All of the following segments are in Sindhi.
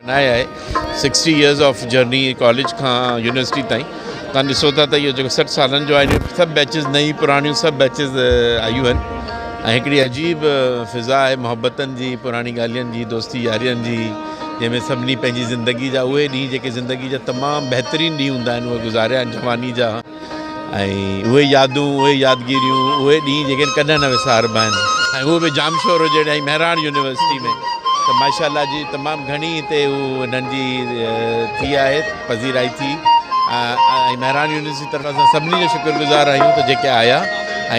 ناهي آهي sixty years of journey college کان يونيورسٽي تائين تان ڏسو ٿا ته اهو جيڪو سٺ سالن جو آهي سڀ بيچز نئي پراڻيون سڀ بيچز آيون آهن ۽ هڪڙي عجيب فضا آهي محبتن جي پراڻي ڳالهين جي دوستي يارين جي جنهن ۾ سڀني پنهنجي زندگي جا اهي ڏينهن جيڪي زندگي جا تمام بهترين ڏينهن هوندا آهن اهي گذاريا آهن جواني جا ۽ اهي يادون، اهي يادگيريون، اهي ڏينهن جيڪي ڪڏهن نه وساربا آهن. ۽ اهو به ڄامشورو جهڙي ۽ مهراڻ يونيورسٽي ۾ ته ماشاء الله جي تمام گهڻي هتي هو هنن جي ٿي آهي پذيرائي ٿي ۽ مهراڻ يونيورسٽي طرف اسان سڀني جا شڪر گذار آهيون ته جيڪي آيا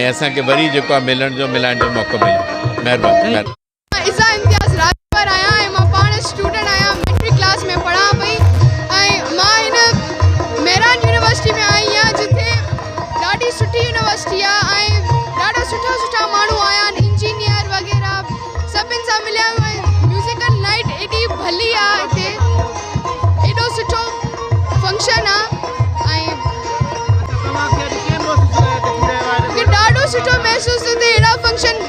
۽ اسان کي وري جيڪو آهي ملڻ جو ملائڻ جو موقعو مليو مهرباني. مان عزا امتياز راڄپر آهيان ۽ مان پاڻ اسٽوڊنٽ آهيان ميٽرڪ ڪلاس ۾ پڙهان پئي ۽ مان هن مهراڻ يونيورسٽي ۾ آئي آهيان جتي ڏاڍي سٺي يونيورسٽي آهي ۽ ڏاڍا سٺا سٺا ماڻهو آيا آهن انجنيئر وغيره سڀن سان مليا آهيون ۽ ميوزيڪل نائٽ ايڏي ڀلي آهي هتي ايڏو سٺو فنڪشن آهي ۽ ڏاڍو سٺو محسوس ٿو ٿئي اهڙا فنڪشن